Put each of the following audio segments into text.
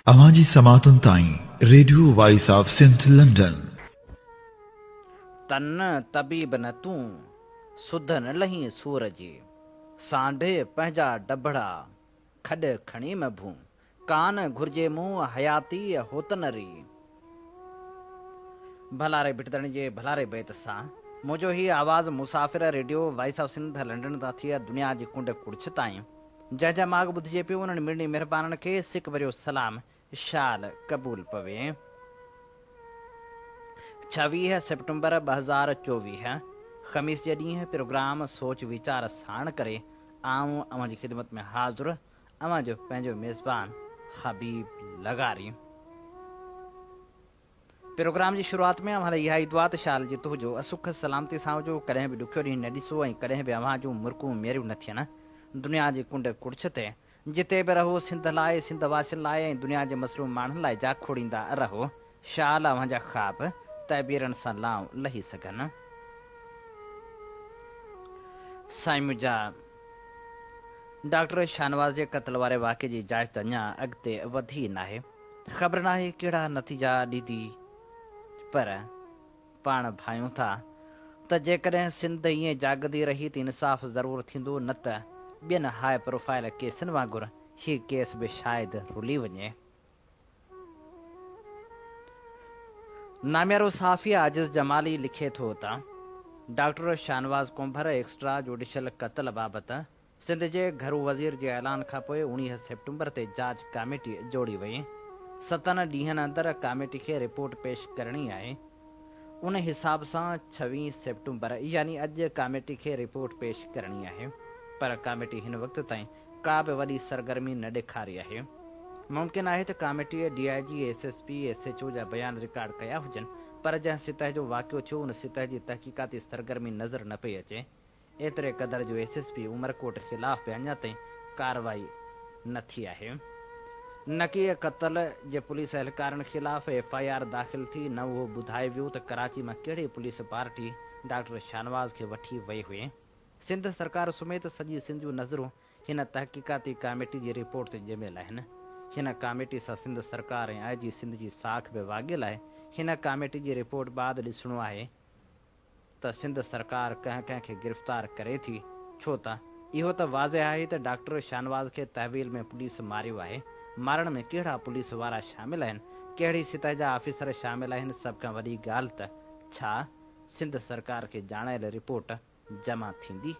اوهان جي سماعتن تائين radio voice of Sindh London. تن طبيب نه تون، سڌ نه لهين سور جي. سانڍي پنهنجا ڊڀڙا، کڏ کڻي م ڀون. ڪا نه گهرجي مون حياتيء هوتن ري. ڀلاري ڀٽدڻ جي ڀلاري بيت سان منهنجو هي آواز مسافر radio voice of Sindh London تان ٿئي دنيا جي ڪنڊ ڪڙڇ تائين جنهن جا ماڳ ٻڌجي پيو انهن مڙني مهربانن کي سڪ ڀريو سلام شال قبول پوي ڇويهه سيپٽمبر ٻه هزار چوويهه خميس جي ڏينهن پروگرام سوچ ويچار ساڻ ڪري آئون اوهان جي خدمت ۾ حاضر اوهان جو پنهنجو ميزبان حبيب لغاري. پروگرام جي شروعات ۾ اوهان لاء اها ئي دعا ته شا الله جي تهجو اسخ سلامتي سان هجو، ڪڏهن به ڏکيو ڏينهن نه ڏسو ۽ ڪڏهن به اوهان جون مرڪون ميريون نه ٿين. دنيا جي ڪنڊ ڪڙڇ تي جتي به رهو سنڌ لاء، سنڌ واسين لاء ۽ دنيا جي مظلوم ماڻهن لاء جا کوڙيندا رهو. شال اوهان جا خواب تعبيرن سان لانء لهي سگهن. سائين منهنجا ڊاڪٽر شاهنواز جي قتل واري واقعي جي جاچ ته اڃا اڳتي وڌي ناهي خبر ناهي ڪهڙا نتيجا ڏيندي پر پاڻ ڀانيون ٿا ته جيڪڏهن سنڌ ائين جاڳندي رهي ته انصاف ضرور ٿيندو نه ته ٻين هاء پروفائل ڪيسن وانگر هي ڪيس به شايد رلي وڃي. ناميارو صحافي عاجز جمالي لکي ٿو ته doctor Shahnawaz Kumbhar extra judicial قتل بابت سنڌ جي گهرو وزير جي اعلان کانپوء اوڻيهه سيپٽمبر تي جاچ ڪاميٽي جوڙي وئي، ستن ڏينهن اندر ڪاميٽي کي رپورٽ پيش ڪرڻي آهي، ان حساب سان ڇويهه سيپٽمبر يعني اڄ ڪاميٽي کي رپورٽ پيش ڪرڻي آهي پر ڪاميٽي هن وقت تائين ڪا به وڏي سرگرمي نه ڏيکاري آهي، ممڪن آهي ته ڪاميٽيء D I G, S S P, S H O جا بيان رڪارڊ ڪيا هجن، پر جنهن سطح جو واقعو ٿيو ان سطح جي تحقيقاتي سرگرمي نظر نه پئي اچي، ايتري قدر جو ايس ايس پي عمرڪوٽ خلاف به اڃا تائين ڪارروائي نه ٿي آهي، نڪي قتل جي پوليس اهلڪارن خلاف ايف آء آر داخل ٿي، نه اهو ٻڌايو ويو ته ڪراچي مان ڪهڙي پوليس پارٽي ڊاڪٽر شاهنواز کي وٺي وئي هئي. سنڌ سرڪار سميت سڄي سنڌ جون نظرون هن تحقيقاتي ڪاميٽي جي رپورٽ تي ڄميل آهن. هن ڪاميٽي سان سنڌ سرڪار ۽ آء جي سنڌ جي ساک به واڳيل آهي. هن ڪاميٽي جي رپورٽ بعد ڏسڻو آهي ته سنڌ سرڪار ڪنهن ڪنهن کي گرفتار ڪري ٿي ڇو ته اهو ته واضح آهي ته ڊاڪٽر شاهنواز کي تحويل ۾ پوليس ماريو آهي. مارڻ ۾ ڪهڙا پوليس وارا شامل آهن، ڪهڙي سطح جا آفيسر شامل آهن سڀ کان وڏي ڳالهه ته ڇا سنڌ سرڪار کي ڄاڻايل رپورٽ جمع ٿيندي.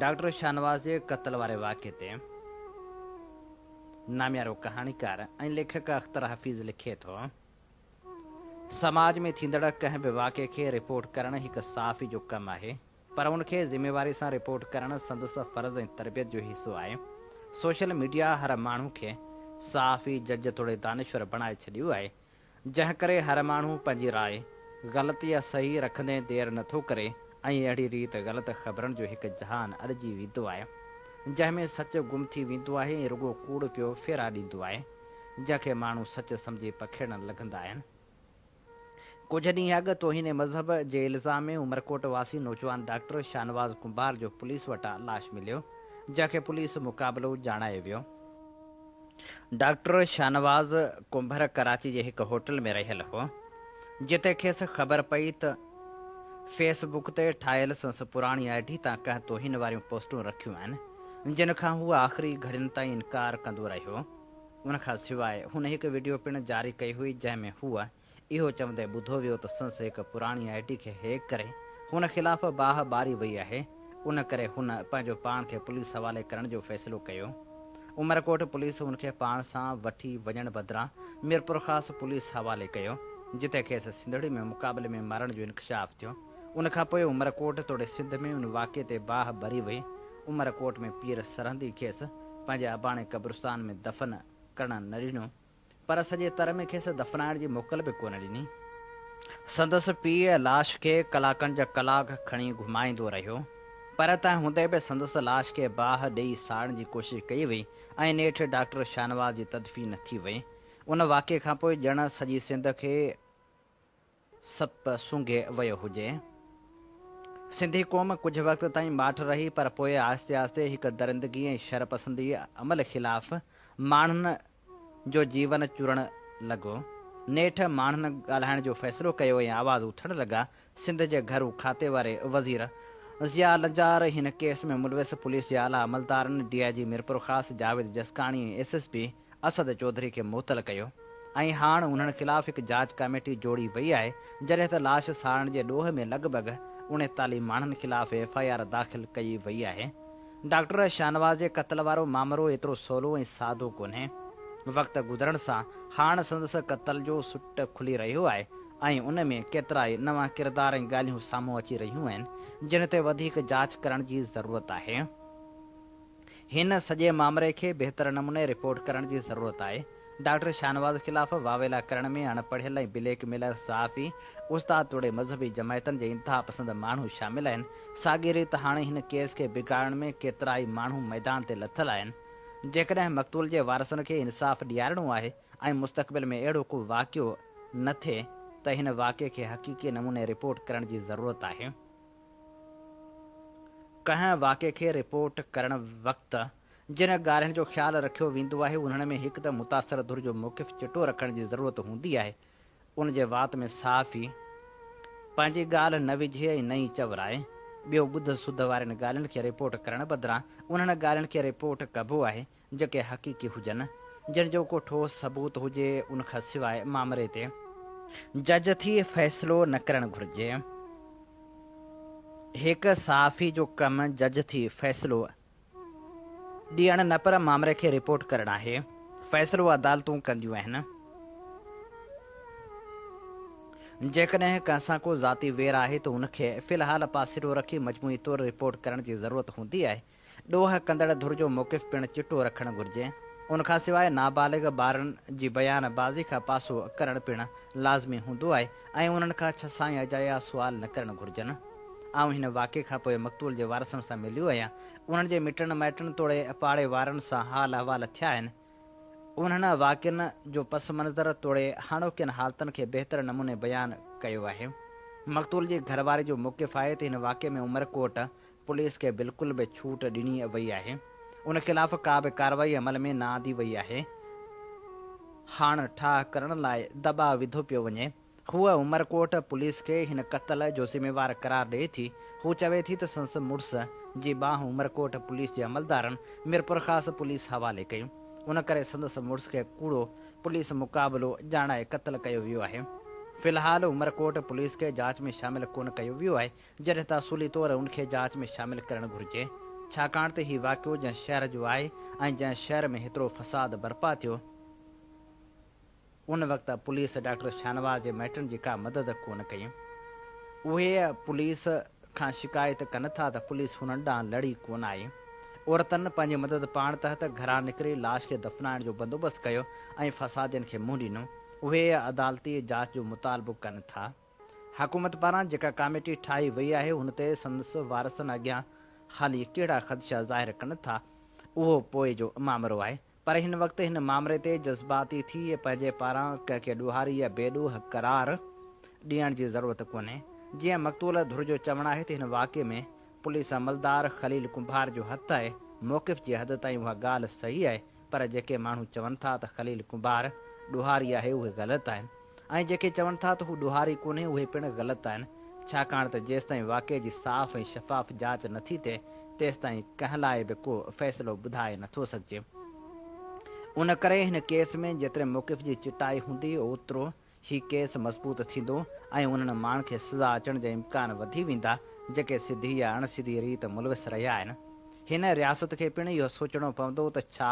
ڊاڪٽر شاهنواز جي قتل واري واقعي تي ناميارو ڪهاڻيڪار ۽ ليکڪ اختر حفيظ لکي ٿو، سماج ۾ ٿيندڙ ڪنهن به واقعي کي رپورٽ ڪرڻ هڪ صحافي جو ڪم آهي، پر ان کي ذميواري سان رپورٽ ڪرڻ سندس فرض ۽ تربيت جو حصو آهي. سوشل ميڊيا هر ماڻهو کي صحافي، جج توڙي دانشور بڻائي ڇڏيو آهي، جنهن ڪري هر ماڻهو پنهنجي راء، غلط يا صحيح، رکندي دير نه ٿو ڪري ۽ اهڙي ريت غلط خبرن جو هڪ جهان اڏجي ويندو آهي، جنهن ۾ سچ گم ٿي ويندو آهي ۽ رڳو ڪوڙ پيو ڦيرا ڏيندو آهي، جنهن کي ماڻهو سچ سمجهي پکيڙڻ لڳندا آهن. ڪجهه ڏينهن اڳ توهين مذهب جي الزام ۾ عمرڪوٽ واسي نوجوان ڊاڪٽر شاهنواز ڪنڀار جو پوليس وٽان لاش مليو، جنهن کي پوليس مقابلو ڄاڻايو ويو. ڊاڪٽر شاهنواز ڪنڀر ڪراچي جي هڪ هوٽل ۾ رهيل هو، جتي کيس خبر پئي ته فيس بڪ تي ٺاهيل سنس پراڻي آء ڊي تان ڪنهن توهين واريون پوسٽون رکيون آهن، جن کان هو آخري گهڙين تائين انڪار ڪندو رهيو. ان کان سواء هن هڪ وڊيو پڻ جاري ڪئي هئي، جنهن ۾ هوء اهو چوندي ٻڌو ويو ته سنس هڪ پراڻي آء ڊي کي هيڪ ڪري هن خلاف باهه ٻاري وئي آهي ان ڪري هن پنهنجو پاڻ کي پوليس حوالي ڪرڻ جو فيصلو ڪيو عمرڪوٽ پوليس هن کي پاڻ سان وٺي وڃڻ بدران ميرپورخاص پوليس حوالي ڪيو جتي کيس سنڌڙي ۾ مقابلي ۾ مارڻ جو انڪشاف ٿيو ان کان پوء عمرڪوٽ توڙي سنڌ ۾ ان واقعي تي باهه ٻري وئي عمرڪوٽ ۾ پير سرهندي کيس پنهنجي اباڻي قبرستان ۾ دفن ڪرڻ نه ڏنو. پر سڄي تر ۾ کيس دفنائڻ جي موڪل به ڪونه ڏني. سندس پيء لاش کي ڪلاڪن جا ڪلاڪ کڻي گهمائيندو رهيو، پر تنهن هوندي به سندس لاش کي باهه ڏئي ساڙڻ جي ڪوشش ڪئي وئي ۽ نيٺ ڊاڪٽر شاهنواز جي تدفين ٿي وئي. ان واقعي کانپوء ڄڻ سڄي سنڌ کي. سپ سونگهي ويو هجي. سنڌي قوم ڪجهه وقت تائين ماٺ رهي پر پوء آهستي آهستي هڪ درندگي ۽ شرپسندي عمل خلاف ماڻهن جو جيون چرڻ لڳو. نيٺ ماڻهن ڳالهائڻ جو فيصلو ڪيو ۽ آواز اٿڻ لڳا. سنڌ جي گهرو کاتي واري وزير ضياء لنجار، هن ڪيس ۾ ملوث پوليس جي اعليٰ عملدارن، D I G Mirpurkhas Javed Jaskani ۽ S S P Asad Chaudhry کي معطل ڪيو ۽ هاڻ انهن خلاف هڪ جاچ ڪاميٽي جوڙي وئي آهي جڏهن ته لاش ساڙڻ جي ڏوهه ۾ لڳ ڀڳ اڻيتاليهه ماڻهن خلاف ايف آء آر داخل ڪئي وئي آهي. ڊاڪٽر شاهنواز جي قتل وارو مامرو ايترو سولو ۽ سادو ڪونهي. وقت گذرڻ سان هاڻ سندس قتل جو سٽ کلي رهيو آهي ۽ ان ۾ ڪيترائي نوان ڪردار ۽ ڳالهيون سامهون اچي رهيون آهن جن تي وڌيڪ جاچ ڪرڻ جي ضرورت آهي. هن سڄي مامري کي بهتر نموني رپورٽ ڪرڻ جي ضرورت آهي، ڊاڪٽر شاهنواز خلاف واويلا ڪرڻ ۾ اڻ پڙهيل ۽ بليڪ ميلر صحافي، استاد توڙي مذهبي جماعتن جي انتها پسند ماڻهو شامل آهن، ساڳي ريت هاڻي هن ڪيس کي بگاڙڻ ۾ ڪيترائي ماڻهو ميدان تي لٿل آهن، جيڪڏهن مقتول جي وارثن کي انصاف ڏيارڻو آهي ۽ مستقبل ۾ اهڙو ڪو واقعو نه ٿئي ته هن واقعي کي حقيقي نموني رپورٽ ڪرڻ جي ضرورت آهي. ڪنهن واقعي کي رپورٽ ڪرڻ وقت جن ڳالهين جو خيال رکيو ويندو آهي انهن ۾ هڪ ته متاثر ڌر جو موقف چٽو رکڻ جي ضرورت هوندي آهي ان جي وات ۾ صحافي پنهنجي ڳالهه نه وجهي ۽ نه ئي چورائي ٻيو ٻڌ سڌ وارين ڳالهين کي رپورٽ ڪرڻ بدران انهن ڳالهين کي رپورٽ ڪبو آهي جيڪي حقيقي هجن، جن جو ڪو ٺوس ثبوت هجي، ان کان سواء مامري تي جج ٿي فيصلو نه ڪرڻ گهرجي. هڪ صحافي جو ڪم جج ٿي فيصلو ڏيڻ نه پر مامري کي رپورٽ ڪرڻ آهي. فيصلو عدالتون ڪنديون آهن. جيڪڏهن ڪنهن سان ڪو ذاتي وير آهي ته ان کي في الحال پاسيرو رکي مجموعي طور رپورٽ ڪرڻ جي ضرورت هوندي آهي. ڏوهه ڪندڙ ڌر جو موقف پڻ چٽو رکڻ گهرجي. ان کان سواء نابالغ ٻارن جي بيان بازي کان پاسو ڪرڻ پڻ لازمي هوندو آهي ۽ انهن کان ڇهه سائين اجايا سوال نه ڪرڻ گهرجن. آئون هن واقعي کان پوء مقتول جي وارثن سان مليو آهيان. انهن جي مٽن مائٽن توڙي پاڙي وارن سان حال احوال ٿيا آهن. انهن واقعن جو پس منظر توڙي هاڻوڪين حالتن کي بهتر نموني بيان ڪيو آهي. مقتول جي گهر واري جو موقف آهي ته هن واقعي ۾ عمرڪوٽ پوليس کي بلڪل به ڇوٽ ڏني وئي آهي، ان خلاف ڪا به ڪارروائي عمل ۾ نه آندي وئي آهي، هاڻ ٺاهه ڪرڻ لاء دٻاء وڌو پيو وڃي، هوء عمرڪوٽ پوليس کي هن قتل جو ذميوار قرار ڏئي ٿي، هو چوي ٿي ته سندس مڙس جي ٻانهن عمرڪوٽ پوليس جي عملدارن ميرپورخاص پوليس حوالي ڪيون، ان ڪري سندس مڙس کي ڪوڙو پوليس مقابلو ڄاڻائي قتل ڪيو ويو آهي، في الحال عمرڪوٽ پوليس کي جاچ ۾ شامل ڪونه ڪيو ويو آهي، جڏهن ته اصولي طور ان کي جاچ ۾ شامل ڪرڻ گهرجي ڇاڪاڻ ته هي واقعو جنهن شهر جو آهي ۽ جنهن شهر ۾ هيترو فساد برپا ٿيو ان وقت پوليس ڊاڪٽر شاهنواز جي مائٽن جي ڪا مدد ڪونه ڪئي اهي پوليس کان شڪايت ڪن ٿا ته پوليس هنن ڏانهن لڙي ڪونه آئي عورتن پنهنجي مدد پاڻ تحت گهران نڪري لاش کي دفنائڻ جو بندوبست ڪيو ۽ فسادين کي منهن ڏنو اهي عدالتي جاچ جو مطالبو ڪن ٿا. حڪومت پاران جيڪا ڪاميٽي ٺاهي وئي آهي ان تي سندس وارثن اڳيان حالي ڪهڙا خدشا ظاهر ڪن ٿا اهو پوء جو مامرو آهي پر هن وقت هن مامري تي جذباتي ٿي پنهنجي پاران ڪنهن کي ڏوهاري يا بي ڏوهه قرار ڏيڻ جي ضرورت ڪونهي جيئن مقتول ڌر جو چوڻ آهي ته هن واقعي ۾ پوليس عملدار خليل ڪنڀار جو هٿ آهي موقف جي حد تائين اها ڳالهه صحيح آهي پر جيڪي ماڻهو چون ٿا ته خليل ڪنڀار ڏوهاري آهي اهي غلط آهن ۽ جيڪي چون ٿا ته هو ڏوهاري ڪونهي اهي پڻ غلط آهن ڇاڪاڻ ته جيستائين واقعي جي صاف ۽ شفاف جاچ نه ٿي ٿئي تيستائين ڪنهن لاء به ڪو فيصلو ٻڌائي نه ٿو سگهجي ان ڪري هن ڪيس ۾ جيتري موقف جي چٽائي هوندي اوترو هي ڪيس مضبوط ٿيندو ۽ انهن ماڻهن کي سزا اچڻ جا امڪان وڌي ويندا جيڪي سڌي يا اڻ سڌي ريت ملوث رهيا آهن. هن رياست کي پڻ اهو سوچڻو پوندو ته ڇا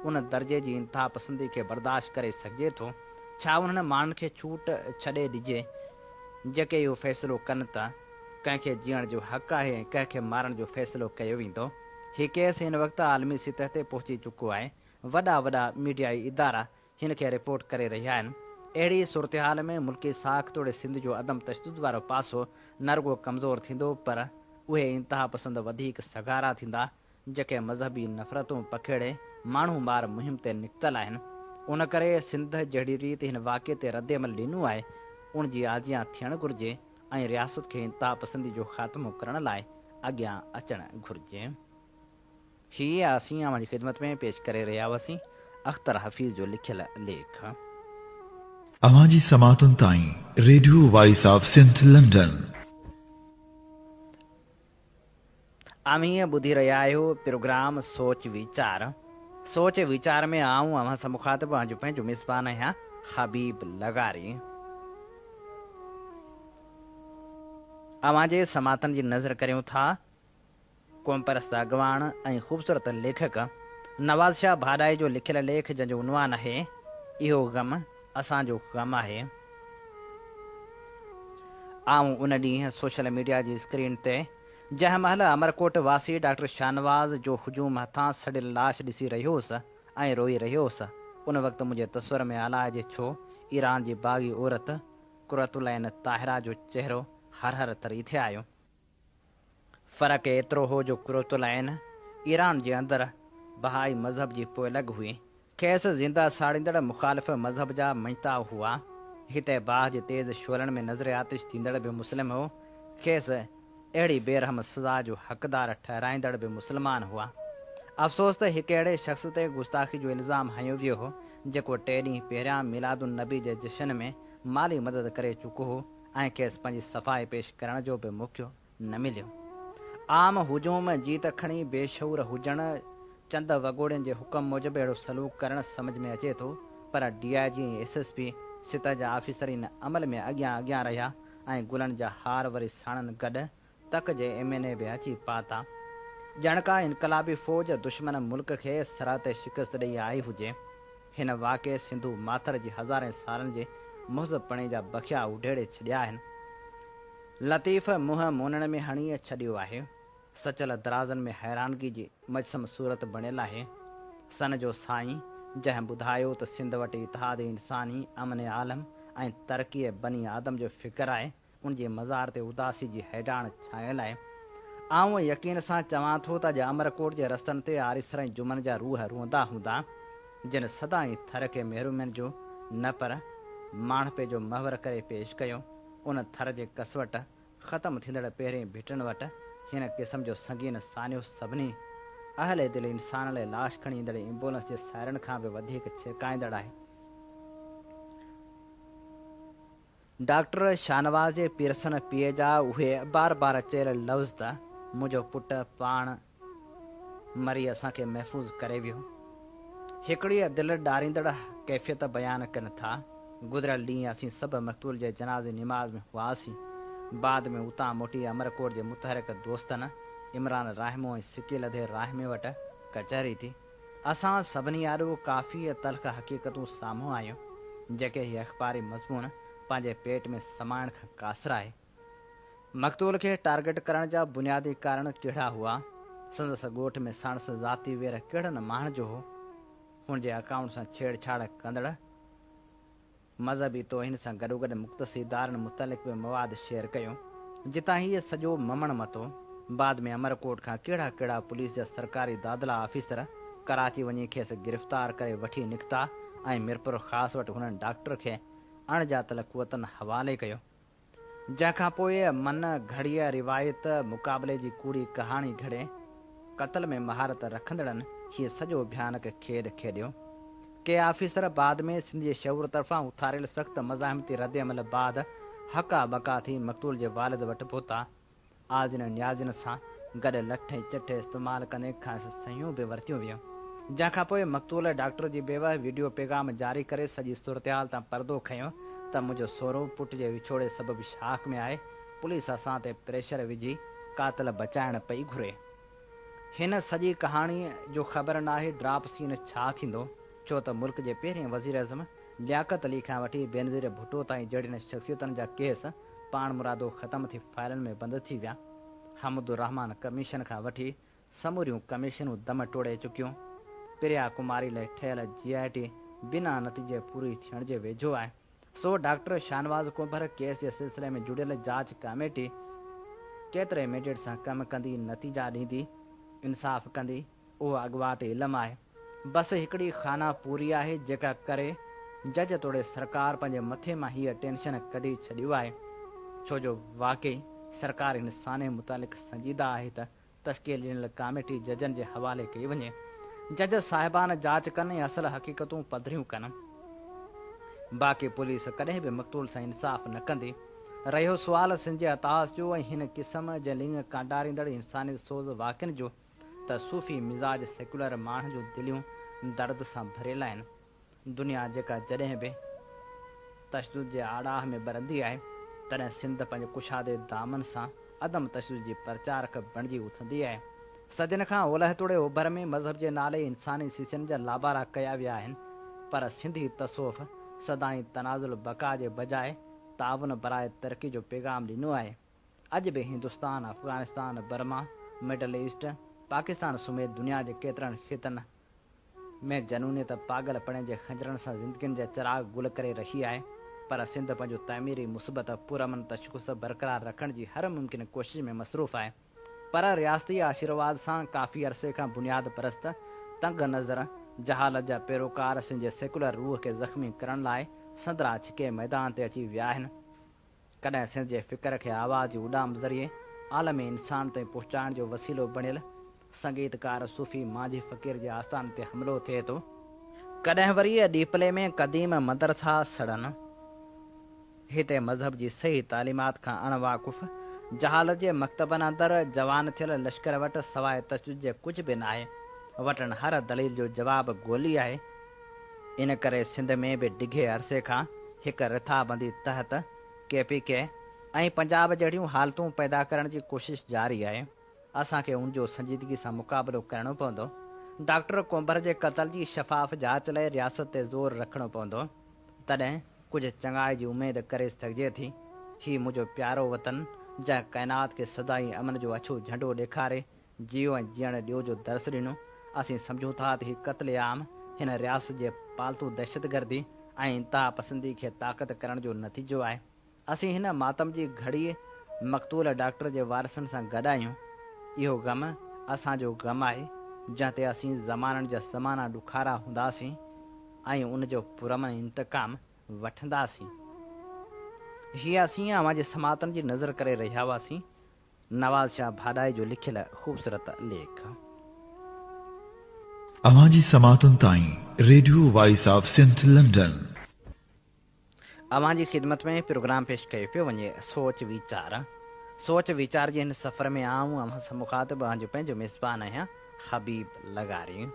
ان درجي جي انتهاپسندي کي برداشت ڪري سگهجي ٿو؟ ڇا انهن ماڻهن کي ڇوٽ ڇڏي ڏجي جيڪي اهو فيصلو ڪن ته ڪنهن کي جيئڻ جو حق آهي ۽ ڪنهن کي مارڻ جو فيصلو ڪيو ويندو؟ هي ڪيس هن وقت عالمي سطح تي پهچي چڪو آهي. وڏا وڏا ميڊيائي ادارا هن کي رپورٽ ڪري رهيا آهن. اهڙي صورتحال ۾ ملڪي ساک توڙي سنڌ جو عدم تشدد وارو پاسو نه رڳو ڪمزور ٿيندو پر اهي انتهاپسند وڌيڪ سگهارا ٿيندا جيڪي مذهبي نفرتون پکيڙي ماڻهو مار مهم تي نڪتل آهن ان ڪري سنڌ جهڙي ريت هن واقعي تي ردعمل ڏنو آهي ان جي آجيان ٿيڻ گهرجي ۽ رياست کي انتهاپسندي جو خاتمو ڪرڻ لاء اڳيان اچڻ گهرجي. هي اسين اوهان جي خدمت ۾ پيش ڪري رهيا هئاسين اختر حفيظ جو لکيل ليک. اوهان جي سماعتن تائين radio voice of Sindh London. اوهين ٻڌي رهيا آهيو پروگرام سوچ ويچار. سوچ ويچار ۾ آئون اوهان سان مخاطب اوهان جو پنهنجو ميزبان آهيان حبيب لغاري. اوهان جي سماعتن جي نظر ڪريون ٿا قومپرست اڳواڻ ۽ خوبصورت ليکڪ نواز شاهه ڀاڏائي جو لکيل ليک جنهن جو عنوان آهي اهو غم اسان جو غم آهي. آئون ان ڏينهن سوشل ميڊيا جي اسڪرين تي جنهن مهل امرڪوٽ واسي ڊاڪٽر شاهنواز جو هجوم هٿان سڙيل لاش ڏسي رهيو هوس ۽ روئي رهيو هوس ان وقت منهنجي تصور ۾ الائجي ڇو ايران جي باغي عورت قرة العين طاهره جو چهرو هر هر تري ٿي آيو. فرق ايترو هو جو قرة العين ايران جي اندر بهائي مذهب جي پوئلڳ هئي. کيس زنده ساڙيندڙ مخالف مذهب جا مڃتا هئا. هتي باهه جي تيز شعلن ۾ نذر آتش ٿيندڙ به مسلم هو. کيس اهڙي بي رحم سزا جو حقدار ٺهرائيندڙ به مسلمان هئا. افسوس ته هڪ اهڙي شخص تي گستاخي جو الزام هنيو ويو هو، جيڪو ٽي ڏينهن پهريان ميلاد النبي جي جشن ۾ مالي مدد ڪري چڪو هو. ۽ کيس پنهنجي صفائي پيش ڪرڻ جو به موقعو نه مليو. عام هجوم جي ته کڻي بي شعور هجڻ، چند وڳوڙين جي حڪم موجب اهڙو سلوڪ ڪرڻ سمجهه ۾ اچي ٿو، پر D I G ۽ S S P سطح جا آفيسر ان عمل ۾ اڳيان اڳيان رهيا ۽ گلن جا هار وري ساڻن گڏ تڪ جي ايم اين اي به اچي پهتا. ڄڻ ڪا انقلابي فوج دشمن ملڪ کي سرحد تي شڪست ڏئي آئي هجي. هن واقعي سنڌو ماٿر جي هزارين سالن جي مهذب پڻي جا بکيا اڊيڙي ڇڏيا آهن. لطيف منهن مونڻ ۾ هڻي ڇڏيو آهي. سچل درازن ۾ حيرانگي جي مجسم صورت بڻيل آهي. سن جو سائين جنهن ٻڌايو ته سنڌ وٽ اتحاد انساني، امن عالم ۽ ترقي بني آدم جو فڪر آهي، ان جي مزار تي اداسي جي هيڊاڻ ڇانيل آهي. آئون يقين سان چوان ٿو ته اڄ امرڪوٽ جي رستن تي آريسرائين جمن جا روح روئندا هوندا، جن سدائين ٿر کي محرومين جو نه پر ماڻهپي جو محور ڪري پيش ڪيو. ان ٿر جي ڪسوٽ ختم ٿيندڙ پهرين ڀٽن وٽ هن قسم جو سنگين سانحو سڀني اهل دل انسان لاء لاش کڻي ايندڙ ايمبولنس جي سائرن کان به وڌيڪ ڇرڪائيندڙ آهي. ڊاڪٽر شاهنواز جي پيرسڻ پيء جا اهي بار بار چيل لفظ ته منهنجو پٽ پاڻ مري اسان کي محفوظ ڪري ويو، هڪڙيء دل ڏاريندڙ ڪيفيت بيان ڪن ٿا. گذريل ڏينهن اسين سڀ مقتول جي جنازي نماز ۾ هئاسين. بعد ۾ اتان موٽي امرڪوٽ جي متحرڪ دوستن عمران راهمو ۽ سڪيل ادي راهمي وٽ ڪچهري ٿي. اسان سڀني آڏو ڪافي تلخ حقيقتون سامهون آيون، جيڪي هي اخباري مضمون پنهنجي پيٽ ۾ سمائڻ کان قاصر آهي. مقتول کي ٽارگيٽ ڪرڻ جا بنيادي ڪارڻ ڪهڙا هئا؟ سندس ڳوٺ ۾ ساڻس ذاتي وير ڪهڙن ماڻهن جو هو؟ هن جي اڪائونٽ سان ڇيڙ ڇاڙ ڪندڙ، مذهبي توهين سان گڏوگڏ مقتسي دارن متعلق به مواد شيئر ڪيو، جتان هيء سڄو ممڻ مٿو. بعد ۾ امرڪوٽ کان ڪهڙا ڪهڙا پوليس جا سرڪاري دادلا آفيسر ڪراچي وڃي کيس گرفتار ڪري وٺي نڪتا ۽ ميرپورخاص وٽ هنن ڊاڪٽر کي اڻ ڄاتل قوتن حوالي ڪيو. جنهن کان پوء من گهڙيء روايت مقابلي جي ڪوڙي ڪهاڻي گهڙي، قتل ۾ مهارت رکندڙن هيء سڄو ڀيانڪ کيڏ کيڏيو. ڪي آفيسر بعد ۾ سنڌ جي شعور طرفان اٿاريل سخت مزاحمتي ردعمل بعد هڪا ٻڪا ٿي مقتول جي والد وٽ پهتا. آجن ۽ نيازن سان گڏ لٺ ۽ چٺ استعمال ڪندي کانئس سهيون به ورتيون ويون، جنهن کان پوء مقتول ڊاڪٽر جي بيواه وڊيو پيغام جاري ڪري سڄي صورتحال تان پردو کنيو ته منهنجو سهرو پٽ جي وڇوڙي سبب شاڪ ۾ آهي، پوليس اسان تي پريشر وجهي قاتل بچائڻ پئي گهري. هن سڄي ڪهاڻيء جو خبر ناهي ڊراپ سين ڇا ٿيندو، ڇو ته ملڪ جي پهرين وزيراعظم لياقت علي کان وٺي بينظير ڀٽو تائين جهڙين شخصيتن جا ڪيس پاڻمرادو ختم ٿي فائلن ۾ بند ٿي ويا. حمدالرحمان ڪميشن کان وٺي سموريون ڪميشنون دم ٽوڙي چڪيون. پريا ڪماري لئه ٺهيل جي آء ٽي بنا نتيجي پوري ٿيڻ جي ويجهو آهي. سو ڊاڪٽر شاهنواز ڪنڀر ڪيس جي سلسلي ۾ جڙيل جاچ ڪاميٽي ڪيتري ميڊيٽ سان ڪم ڪندي نتيجا ڏيندي انصاف ڪندي اهو اڳواٽ علم آهي بس هڪڙي خانه پوري آهي جيڪا ڪري جج توڙي سرڪار پنهنجي مٿي مان هيء ٽينشن ڪڍي ڇڏيو آهي ڇو جو واقعي سرڪار هن سانحي متعلق سنجيده آهي ته تشڪيل ڏنل ڪاميٽي ججن جي حوالي ڪئي وڃي، جج صاحبان جاچ ڪن ۽ اصل حقيقتون پڌريون ڪن، باقي پوليس ڪڏهن به مقتول سان انصاف نه ڪندي. رهيو سوال سنجي عطاس جو ۽ هن قسم جي لڱ ڪانڊاريندڙ انساني سوز واقعن جو ته صوفي مزاج سيڪيولر ماڻهن جون دليون درد سان ڀريل آهن. دنيا جيڪا جڏهن به تشدد جي آڙاهه ۾ ٻرندي آهي، تڏهن سنڌ پنهنجي ڪشادي دامن سان عدم تشدد جي پرچارڪ بڻجي اٿندي آهي. صدين کان اولهه توڙي اوڀر ۾ مذهب جي نالي انساني سيسن جا لابارا ڪيا ويا آهن، پر سنڌي تصوف سدائين تنازل بقا جي بجاء تعاون براء ترقي جو پيغام ڏنو آهي. اڄ به Hindustan, Afghanistan, Burma, middle east, Pakistan سميت دنيا جي ڪيترن خطن، ۾ جنونيت پاڳل پڻي جي خنجرن سان زندگين جا چراغ گل ڪري رھي آھي پر سنڌ پنھنجو تعميري مثبت پرامن تشخص برقرار رکڻ جي ھر ممڪن ڪوشش ۾ مصروف آھي پر رياستي آشيرواد سان ڪافي عرصي کان بنياد پرست تنگ نظر جھالت جا پيروڪار سنھنجي سيڪولر روح کي زخمي ڪرڻ لاء سندرا ڇڪي ميدان تي اچي ويا آھن. ڪڏهن سنڌ جي فڪر کي آواز جي اڏام ذريعي عالم انسان تائين پهچائڻ جو وسيلو بڻيل سنگيتڪار صوفي مانجهي فقير جي آستان تي حملو ٿئي ٿو، ڪڏهن وري ڏيپلي ۾ قديم مدرسا سڙن، هتي مذهب جي صحيح تعليمات کان اڻ واقف جهالت جي مڪتبن اندر جوان ٿيل لشڪر وٽ سواء تشدد جي ڪجهه به ناهي، وٽن هر دليل جو جواب گولي آهي، ان ڪري سنڌ ۾ به ڊگهي عرصي کان هڪ رٿابندي تحت ڪي پي ڪي ۽ پنجاب جهڙيون حالتون پيدا ڪرڻ جي ڪوشش جاري آهي، اسان کي ان جو سنجيدگي سان مقابلو ڪرڻو پوندو، ڊاڪٽر ڪنڀر جي قتل جي شفاف جاچ لاء رياست تي زور رکڻو پوندو، تڏهن ڪجهه چڱائي جي اميد ڪري سگهجي ٿي، هي منهنجو پيارو وطن جنهن ڪائنات کي سدائين امن جو اڇو جهنڊو ڏيکاري جيئو ۽ جيئڻ ڏيو جو درس ڏنو، اسين سمجهون ٿا ته هي قتل عام هن رياست جي پالتو دهشتگردي ۽ انتها پسندي کي طاقت ڪرڻ جو نتيجو آهي، اسين هن ماتم جي گهڙيء مقتول ڊاڪٽر جي وارثن سان گڏ آهيون، اهو غم اسان جو غم آهي جنهن تي اسين زمانن جا زمانا ڏکارا هونداسين ۽ ان جو پرامن انتقام وٺنداسين. هيء اسين اوهان جي سماعتن جي نذر ڪري رهيا هئاسين، نواز شاهه ڀاڏائي جو لکيل خوبصورت ليک. اوهان جي سماعتن تائين radio voice of Sindh London. اوهان جي خدمت ۾ پروگرام پيش ڪيو پيو وڃي سوچ ويچار. سوچ ويچار جي هن سفر ۾ آئون اوهان سان مخاطب اوهان جو پنهنجو ميزبان آهيان حبيب لغاري.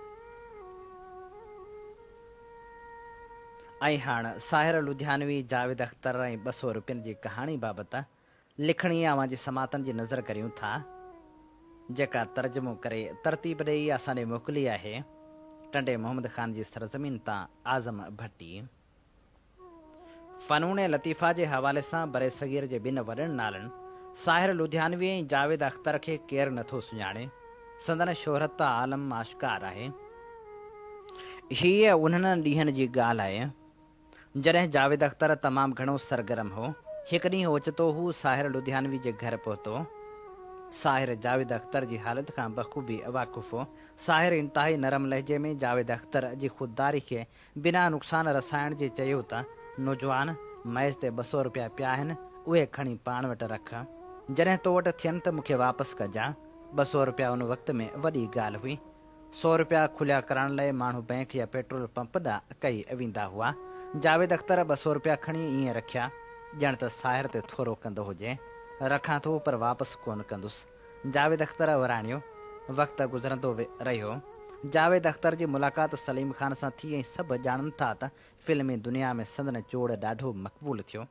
۽ هاڻ ساحر لڌيانوي، جاويد اختر ۽ ٻه سؤ روپين جي ڪهاڻي بابت لکڻي اوهان جي سماعتن جي نظر ڪريون ٿا، جيڪا ترجمو ڪري ترتيب ڏيئي اسان ڏي موڪلي آهي، ٽنڊي محمد خان جي سرزمين تان اعظم ڀٽي. فنون لطيفه جي حوالي سان برصغير جي ٻن وڏن نالن ساحر لڌيانوي ۽ جاويد اختر کي ڪير نه ٿو سڃاڻي، سندن شهرت ته عالم آشڪار آهي. هيء انهن ڏينهن جي ڳالهه آهي، جڏهن جاويد اختر تمام گهڻو سرگرم هو. هڪ ڏينهن اوچتو هو ساحر لڌيانوي جي گهر پهتو. ساحر جاويد اختر جي حالت کان بخوبي واقف هو. ساحر انتهائي نرم لهجي ۾ جاويد اختر جي خودداري کي بنا نقصان رسائڻ جي چيو ته، نوجوان، ميز تي ٻه سؤ روپيا پيا آهن، اهي کڻي پاڻ وٽ رک. جڏهن تو وٽ ٿين ته مون کي واپس ڪجان. ٻه سؤ روپيا ان وقت ۾ وڏي ڳالهه هئي. سؤ رپيا کليا ڪرائڻ لاء ماڻهو بئنڪ يا پيٽرول پمپ ڏانهن اڪئي ويندا هئا. جاويد اختر ٻه سؤ رپيا کڻي ائين رکيا، ڄڻ ته ساهر تي ٿورو ڪندو هجي. رکان ٿو پر واپس ڪونه ڪندس. جاويد اختر وراڻيو. وقت گذرندو رهيو. جاويد اختر جي ملاقات سليم خان سان ٿي ۽ سڀ ڄاڻن ٿا ته فلمي دنيا ۾ سندن چوڙ ڏاڍو مقبول ٿيو.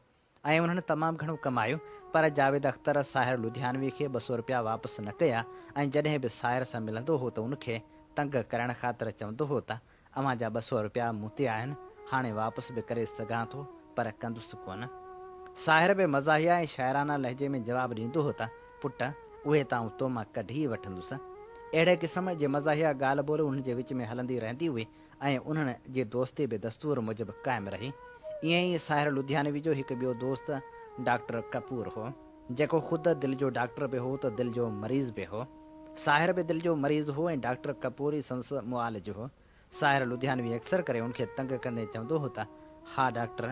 ۽ انهن تمام گهڻو ڪمايو، پر جاويد اختر ساحر لڌيانوي کي ٻه سؤ رپيا واپس نه ڪيا ۽ جڏهن به ساحر سان ملندو هو ته ان کي تنگ ڪرڻ خاطر چوندو هو ته اوهان جا ٻه سؤ رپيا مون تي آهن، هاڻي واپس به ڪري سگهان ٿو پر ڪندس ڪونه. ساحر به مزاحيه ۽ شاعرانه لهجي ۾ جواب ڏيندو هو ته پٽ اهي ته آئون تو مان ڪڍي ئي وٺندس. اهڙي قسم جي مزاحيه ڳالهه ٻولهه انهن جي وچ ۾ هلندي رهندي هئي. ۽ انهن جي دوستي به دستور موجب قائم رهي. ائين ئي ساحر لڌيانوي جو هڪ ٻيو دوست ڊاڪٽر ڪپور هو، جيڪو خود دل جو ڊاڪٽر به هو ته دل جو مريض به هو. ساحر به دل جو مريض هو ۽ ڊاڪٽر ڪپور ئي سندس معالج هو. ساحر لڌيانوي اڪثر ڪري ان کي تنگ ڪندي چوندو هو ته، ها ڊاڪٽر،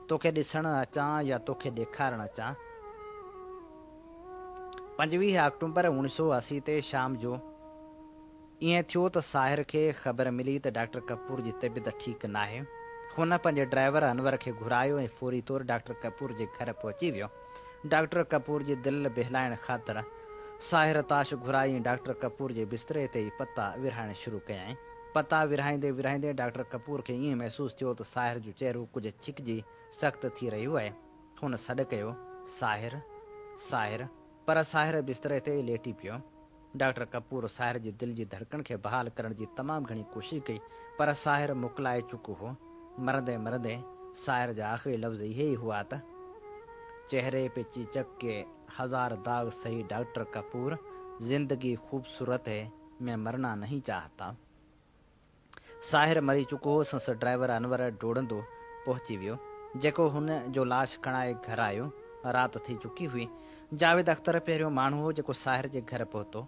توکي ڏسڻ اچان يا توکي ڏيکارڻ اچان؟ پنجويهه آڪٽومبر اوڻيهه سؤ اسي تي شام جو، ائين ٿيو ته ساحر کي خبر ملي ته ڊاڪٽر ڪپور جي طبيعت ٺيڪ ناهي. هن پنهنجي ڊرائيور انور کي گهرايو ۽ فوري طور ڊاڪٽر ڪپور جي گهر پهچي ويو. ڊاڪٽر ڪپور جي دل بهلائڻ خاطر ساحر تاش گهرائي ۽ ڊاڪٽر ڪپور جي بستري تي ئي پتا ورهائڻ شروع ڪيائين. پتا ورهائيندي ورهائيندي ڊاڪٽر ڪپور کي ائين محسوس ٿيو ته ساحر جو چهرو ڪجهه ڇڪجي سخت ٿي رهيو آهي. هن سڏ ڪيو، ساحر! ساحر! پر ساحر بستري تي ئي ليٽي پيو. ڊاڪٽر ڪپور ساحر جي دل جي ڌڙڪڻ کي بحال ڪرڻ جي تمام گهڻي ڪوشش ڪئي پر ساحر مڪلائي چڪو هو. مرندي مرندي ساحر جا آخري لفظ اهي ئي هئا ته، چهري پي چيچڪ ڪي هزار داغ سهي ڊاڪٽر ڪپور زندگي خوبصورت هي مين مرنا نهين چاهتا. ساحر مري چڪو هو، سنس ڊرائيور انور ڊوڙندو پهچي ويو، جيڪو هن جو لاش کڻائي گهر آيو. رات ٿي چڪي هئي. جاويد اختر پهريون ماڻهو هو، جيڪو ساحر جي گهر پهتو.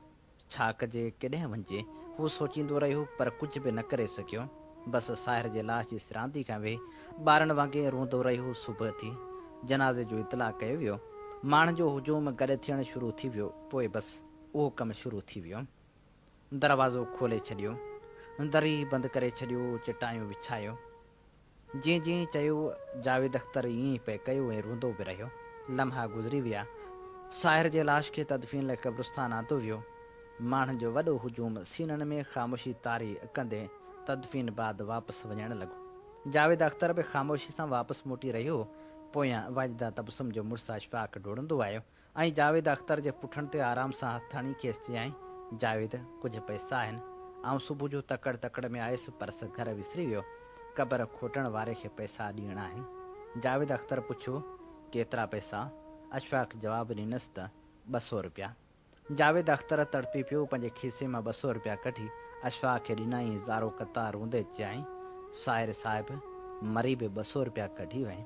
ڇا ڪجي، ڪيڏانهن وڃجي، هو سوچيندو رهيو، پر ڪجهه به نه ڪري سگهيو. بس ساحر جي لاش جي سراندي کان ويهي، ٻارن وانگي روئندو رهيو. صبح ٿي. جنازي جو اطلاع ڪيو ويو. ماڻهن جو هجوم گڏ ٿيڻ شروع ٿي ويو. پوء بس اهو ڪم شروع ٿي ويو. دروازو کولي ڇڏيو، دري بند ڪري ڇڏيو، چٽايون وڇايو. جيئن جيئن چيو، جاويد اختر ائين ئي پئي ڪيو ۽ روئندو به رهيو. لمحا گذري ويا. ساحر جي لاش کي تدفين لاء قبرستان آندو ويو. ماڻهن جو وڏو هجوم سينن ۾ خاموشي تاري ڪندي تدفين بعد واپس وڃڻ لڳو. جاويد اختر به خاموشي سان واپس موٽي رهيو هو. پويان واجده تبسم جو مڙس اشفاق ڊوڙندو آيو. ۽ جاويد اختر جي پٺڻ تي آرام سان هٿ هڻي کيس چيائين، جاويد! ڪجهه پئسا آهن. آئون صبح جو تڪڙ تڪڙ ۾ آيس، پرس گهر وسري ويو. قبر کوٽڻ واري کي پئسا ڏيڻا آهن. جاويد اختر پڇيو، ڪيترا پئسا؟ اشفاق جواب ڏنس ته، ٻه سؤ رپيا. جاويد اختر تڙپي پيو، پنهنجي کيسي مان ٻه سؤ رپيا ڪڍي اشفاق کي ڏنائين، زارو قطع روندي چيائين، ساحر صاحب! مري به ٻه سؤ رپيا ڪڍي وئين.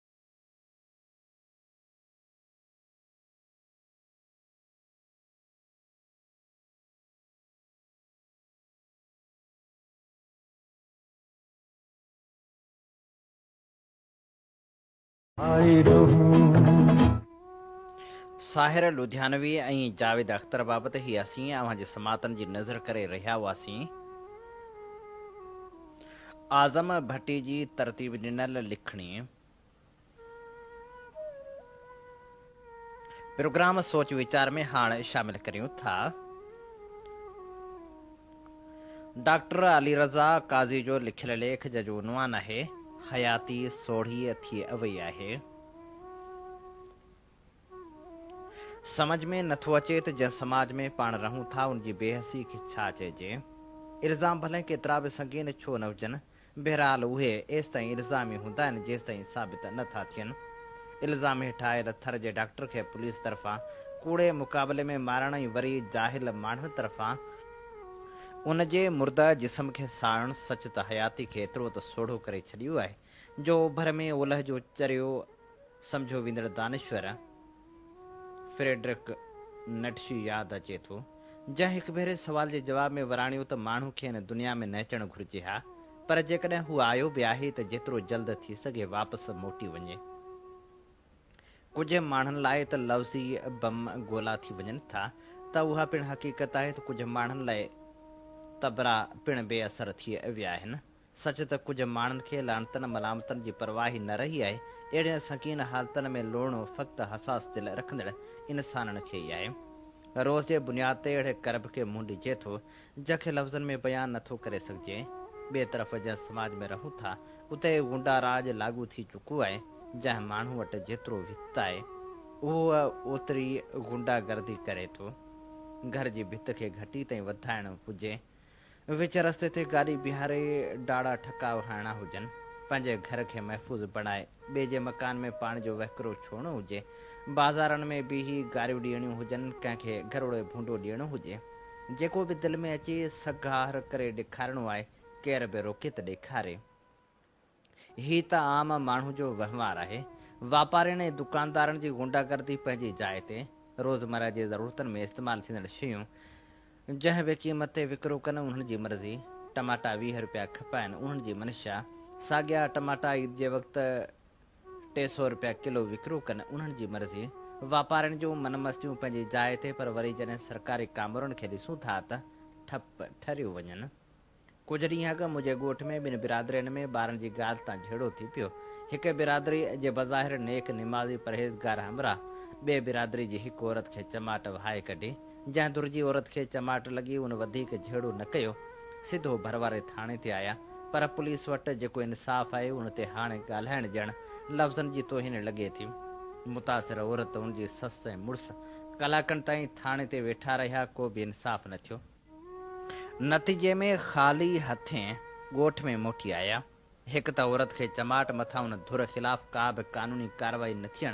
ساحر لڌيانوي ۽ جاويد اختر بابت هي اسين اوهان جي سماعتن جي نذر ڪري رهيا هئاسين. اعظم ڀٽي جي ترتيب ڏنل لکڻي پروگرام سوچ ويچار ۾ هاڻ شامل ڪريون ٿا. ڊاڪٽر علي رضا قاضي جو لکيل ليک جنهن جو عنوان آهي، حياتي سوڙهي ٿي اوئي آهي. سمجهه ۾ نه ٿو اچي ته جنهن سماج ۾ پاڻ رهون ٿا ان جي بي حسي کي ڇا چئجي؟ الزام ڀلين ڪيترا به سنگين ڇو نه هجن، بهرحال اهي ايستائين الزام ئي هوندا آهن جيستائين ثابت نه ٿا ٿين. الزام هيٺ آيل ٿر جي ڊاڪٽر کي پوليس طرفان ڪوڙي مقابلي ۾ مارڻ ۽ وري جاهل ماڻهن طرفان، ان جي مرده جسم کي ساڙڻ سچ ته حياتي کي ايترو ته سوڙهو ڪري ڇڏيو آهي جو اوڀر ۾ اولهه جو چريو سمجهيو ويندڙ دانشور فريڊرڪ نٽشي ياد اچي ٿو، جنهن هڪ ڀيري سوال جي جواب ۾ وراڻيو ته ماڻهو کي هن دنيا ۾ نه اچڻ گهرجي ها، پر جيڪڏهن هو آيو به آهي ته جيترو جلد ٿي سگهي واپس موٽي وڃي. ڪجهه ماڻهن لاء ته لفظي بم گولا ٿي وڃن ٿا ته اها پڻ حقيقت آهي ته ڪجهه ماڻهن لاء تبرا پڻ بي اثر ٿي ويا آهن. سچ ته ڪجهه ماڻهن کي لعنتن ملامتن جي پرواهه ئي نه رهي آهي. اهڙين سنگين حالتن ۾ لوڙڻو فقط حساس دل رکندڙ انسانن کي ئي آهي. روز جي بنياد تي اهڙي ڪرب کي منهن ڏجي ٿو، جنهن کي لفظن ۾ بيان نه ٿو ڪري سگهجي. ٻئي طرف جنهن سماج ۾ رهون ٿا، اتي غنڊا راڄ لاڳو ٿي چڪو آهي. جنهن ماڻهو وٽ جيترو وت آهي، اهو اوتري غنڊا گردي ڪري ٿو. گهر جي ڀت کي گهٽي تائين وڌائڻ هجي وچ رستي تي گاڏي بيهاري ڊاڙا ٺڪاء هڻڻا هجن، پنهنجي گهر کي محفوظ بڻائي، ٻئي جي مڪان ۾ پاڻي جو وهڪرو ڇوڙڻو هجي، بازارن ۾ بيهي گاريون ڏيڻيون هجن، ڪنهن کي گهروڙي ڀونڊو ڏيڻو هجي، جيڪو به دل ۾ اچي سگهار ڪري ڏيکارڻو آهي، ڪير به روڪي ته ڏيکاري. هي ته عام ماڻهو جو وهنوار آهي. واپارين ۽ دڪاندارن جي غنڊا گردي پنهنجي جاء تي. روزمره جي ضرورتن ۾ استعمال ٿيندڙ شيون جنهن به قيمت تي وڪرو ڪن انهن جي مرضي. ٽماٽا ويهه رپيا کپائن انهن جي منشا. ساڳيا ٽماٽا عيد جي وقت ٽي سؤ رپيا ڪلو وڪرو ڪن انهن جي مرضي. واپارين جون من مستيون پنهنجي جاء تي پر وري جڏهن سرڪاري ڪامورن کي ڏسون ٿا ته ٺپ ٺريون وڃن. ڪجهه ڏينهن اڳ منهنجي ڳوٺ ۾ ٻن برادرين ۾ ٻارن جي ڳالهه تان جهيڙو ٿي پيو. هڪ برادري جي بظاهر نيڪ، نمازي، پرهيزگار همراهه ٻئي برادري جي هڪ عورت کي چماٽ وهائي ڪڍي. جنهن ڌر جي عورت کي چماٽ لڳي ان وڌيڪ جهيڙو نه ڪيو. سڌو ڀر واري ٿاڻي تي آيا. پر پوليس وٽ جيڪو انصاف آهي ان تي هاڻي ڳالهائڻ ڄڻ لفظن جي توهين لڳي ٿي. متاثر عورت، ان جي سس ۽ مڙس ڪلاڪن تائين ٿاڻي تي ويٺا رهيا ڪو به انصاف نه ٿيو. نتيجي ۾ خالي هٿين ڳوٺ ۾ موٽي آيا. هڪ ته عورت کي چماٽ مٿان ان ڌر خلاف ڪا به قانوني ڪارروائي نه ٿيڻ،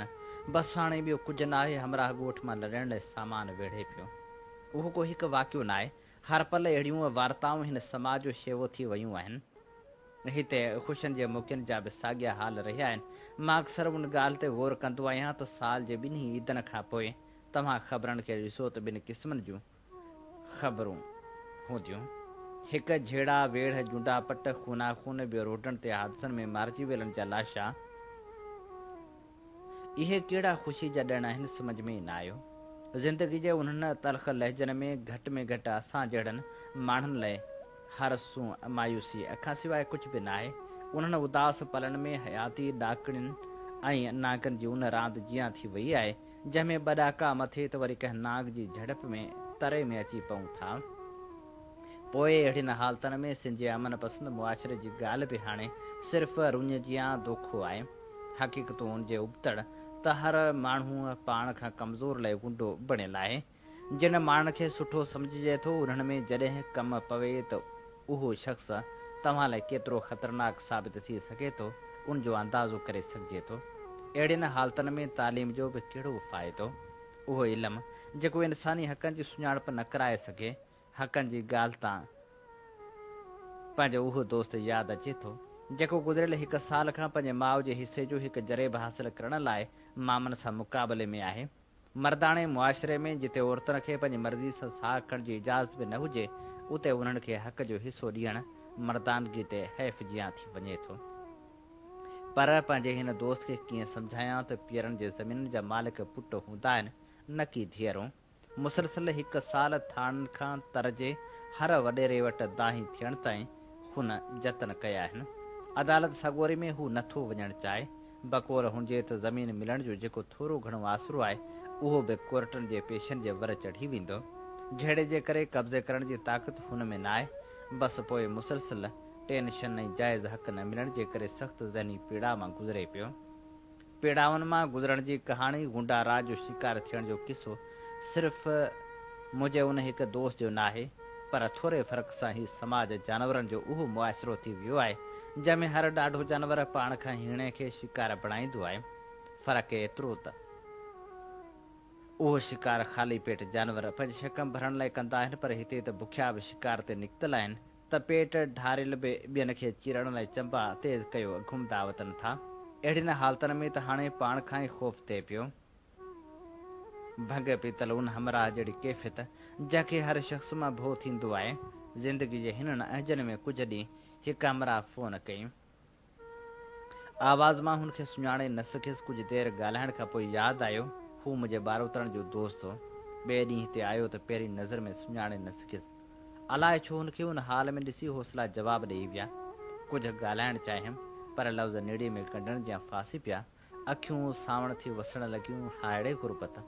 بس هاڻي ٻيو ڪجهه ناهي همراهه ڳوٺ مان لڏڻ لاء سامان ويڙهي پيو. اهو ڪو هڪ واقعو ناهي، هر پل اهڙيون وارتائون هن سماج جو شيوو ٿي ويون آهن. هتي خوشين جي موقعن جا به ساڳيا حال رهيا آهن. مان اڪثر ان ڳالهه تي غور ڪندو آهيان ته سال جي ٻنهي عيدن کان پوء توهان خبرن کي ڏسو ته ٻن قسمن جون خبرون هونديون. هڪ جهيڙا، ويڙهه، جونڊا پٽ، خونا خون، ٻيو روڊن تي حادثن ۾ مارجي ويلن جا لاشا. اهي ڪهڙا خوشي جا ڏڻ آهن سمجهه ۾ ئي نه آيو. زندگي جي انهن تلخ لهجن ۾ گهٽ ۾ گهٽ اسان جهڙن ماڻهن لئه هر سون مايوسيء کان سواء ڪجهه به ناهي. انهن اداس پلن ۾ حياتي ڏاڪڻين ۽ نانگن جي ان راند جيان ٿي وئي آهي، جنهن ۾ ٻه ڏهاڪا مٿي ته وري ڪنهن ناگ جي جهڙپ ۾ تري ۾ اچي پئون ٿا. پوء اهڙين حالتن ۾ سنڌ جي امن پسند معاشري جي ڳالهه به هاڻي صرف رڃ جيان دوکو آهي. حقيقتون ان جي ابتڙ ته هر ماڻهوء پاڻ کان ڪمزور لئه غنڊو بڻيل آهي. جن ماڻهن کي سٺو سمجهجي ٿو انهن ۾ جڏهن ڪم پوي ته اهو شخص توهان لاء ڪيترو خطرناڪ ثابت ٿي سگهي ٿو ان جو اندازو ڪري سگهجي ٿو. اهڙين حالتن ۾ تعليم جو به ڪهڙو فائدو؟ اهو علم جيڪو انساني حقن جي سڃاڻپ نه ڪرائي سگهي. حقن جي ڳالهه تان پنهنجو اهو دوست ياد اچي ٿو جيڪو گذريل هڪ سال کان پنهنجي ماء جي حصي جو هڪ جريب حاصل ڪرڻ لاء مامن سان مقابلي ۾ آهي. مرداڻي معاشري ۾ جتي عورتن کي پنهنجي مرضي سان ساهه کڻڻ جي اجازت به نه هجي، اتي انهن کي حق جو حصو ڏيڻ مردانگي تي حيف جيان ٿي وڃي ٿو. پر پنهنجي هن دوست کي ڪيئن سمجهايان ته پيرن جي زمينن جا مالڪ پٽ هوندا آهن نه ڪي ڌيئرون. مسلسل هڪ سال ٿاڻن کان تر جي هر وڏيري وٽ دانهين ٿيڻ تائين هن جتن ڪيا آهن. عدالت سڳوري ۾ هو نه ٿو وڃڻ چاهي. بڪور هجي ته زمين ملڻ جو جيڪو ٿورو گهڻو آسرو آهي، اهو به ڪورٽن جي پيشن جي ور چڙهي ويندو. جهيڙي جي ڪري قبضي ڪرڻ جي طاقت هن ۾ ناهي، بس پوء مسلسل ٽينشن ۽ جائز حق نه ملڻ جي ڪري سخت ذهني پيڙاء مان گذري پيو. پيڙائن مان گذرڻ جي ڪهاڻي غنڊا راڄ جو شڪار ٿيڻ جو قصو صرف منهنجي ان هڪ دوست جو ناهي، پر ٿوري فرق سان هي سماج جانورن جو اهو معاشرو ٿي ويو آهي، جنهن ۾ هر ڏاڍو جانور پاڻ کان هيڻي کي شڪار بڻائيندو آهي. فرق ايترو ته اهو شڪار خالي پيٽ جانور پنهنجي شڪم ڀرڻ لاء ڪندا آهن، پر هتي ته بکيا به شڪار تي نڪتل آهن، ته پيٽ ڍاريل به ٻين کي چيرڻ لاء چنبا تيز ڪيو گهمدا وتن ٿا. اهڙين حالتن ۾ ته هاڻي پاڻ کان ئي خوف ٿئي پيو، ڀنگ پيتل ان همراهه جهڙي ڪيفيت، جنهن کي هر شخص مان ڀو ٿيندو آهي. زندگي جي هنن اهنجن ۾ ڪجهه ڏينهن هڪ همراهه فون ڪيم. آواز مان هن کي سڃاڻي نه سگهيس. ڪجهه دير ڳالهائڻ کان پوء ياد آيو، هو منهنجي ٻاروتڻ جو دوست هو. ٻئي ڏينهن هتي آيو ته پهرين نظر ۾ سڃاڻي نه سگهيس. الاء ڇو هن کي ان حال ۾ ڏسي حوصلا جواب ڏيئي ويا. ڪجهه ڳالهائڻ چاهيم، پر لفظ نڙي ۾ ڳنڍڻ جيان ڦاسي پيا. اکيون سانوڻ ٿي وسڻ لڳيون. هائڙي غربت!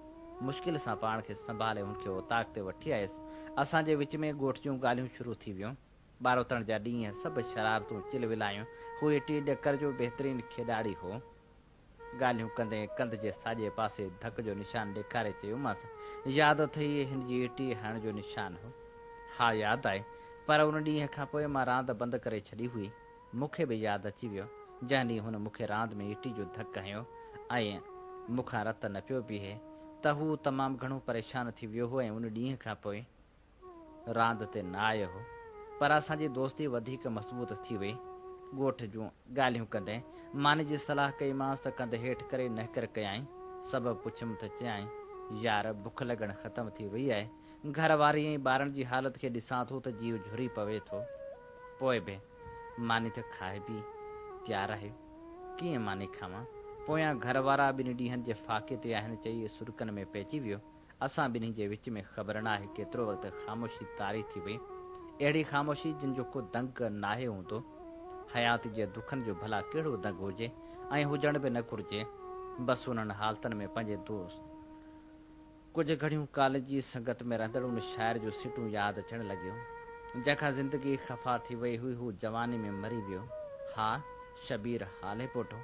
مشڪل سان پاڻ کي سنڀالي هن کي اوطاق تي وٺي آيس. اسان جي وچ ۾ ڳوٺ جون ڳالهيون شروع ٿي ويون. ٻاروتڻ جا ڏينهن سڀ شرارتون چل ولايون. هو اٽي ڏڪر جو بهترين کيڏاڙي هو. ڳالهيون ڪندي ڪنڌ جي ساڄي پاسي ڌڪ جو نشان ڏيکاري چيومانس، ياد اٿئي هن جي اٽي هڻڻ جو نشان هو؟ ها ياد آهي، پر ان ڏينهن کان پوء مان راند بند ڪري ڇڏي هئي. مون کي به ياد اچي ويو، جنهن ڏينهن هن مون کي راند ۾ ايٽي جو ڌڪ هنيو ۽ مون کان رت نه پيو بيهي ته هو تمام گهڻو پريشان ٿي ويو هو ۽ ان ڏينهن کان پوء راند تي نه آيو هو. پر اسان جي دوستي وڌيڪ مضبوط ٿي وئي. ڳوٺ جون ڳالهيون ڪندي ماني جي صلاح ڪئيمانس ته ڪنڌ هيٺ ڪري نهڪر ڪيائين. سبب پڇيم ته چيائين، يار بک لڳڻ ختم ٿي وئي آهي. گهر واري ۽ ٻارن جي حالت کي ڏسان ٿو ته جيء جهري پوي ٿو. پوء به. ماني ته کائي پي تيار آهي، ڪيئن ماني کاوان؟ پويان گهر وارا ٻن ڏينهن جي فاقي تي آهن چئي سرڪن ۾ پئجي ويو. اسان ٻنهي جي وچ ۾ خبر نه آهي ڪيترو وقت خاموشي طاري ٿي وئي. اهڙي خاموشي جنهن جو ڪو دنگ ناهي هوندو. حيات جي دکن جو ڀلا ڪهڙو دنگ هجي ۽ هجڻ به نه گهرجي. بس انهن حالتن ۾ پنهنجي دوست. ڪجهه گهڙيون ڪاليج جي سنگت ۾ رهندڙ ان شاعر جون سٽون ياد اچڻ لڳيون، جنهن کان زندگي خفا ٿي وئي هئي، هو جواني ۾ مري ويو. ها! شبير هاليپوٽو،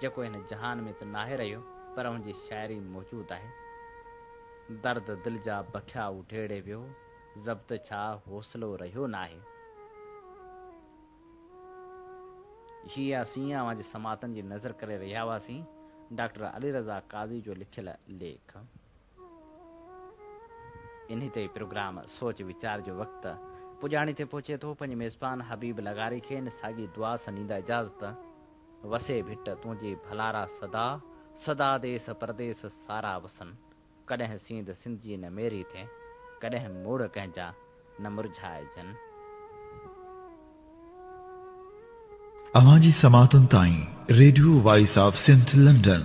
جيڪو هن جهان ۾ ته ناهي رهيو، پر هن جي شاعري موجود آهي. درد دل جا بکيا اڊيڙي ويو، ضبط ڇا حوصلو رهيو ناهي. هي يا سين اوهان جي سماعتن جي نذر ڪري رهيا هئاسين، ڊاڪٽر علي رضا قاضي جو لکيل ليک. انهي تي پروگرام سوچ ويچار جو وقت پڄاڻي تي پهچي ٿو، پنهنجي ميزبان حبيب لغاري کي ان ساڳي دعا سان ڏيندا اجازت، وسي ڀٽ تنهنجي ڀلارا سدا، سدا ديس پرديس سارا وسن. ڪڏهن سينڌ سنڌيء نه ميري ٿئي، ڪڏهن موڙ ڪنهن جا نه مرجهائجن. اوهان جي سماعتن تائين radio voice of Sindh London.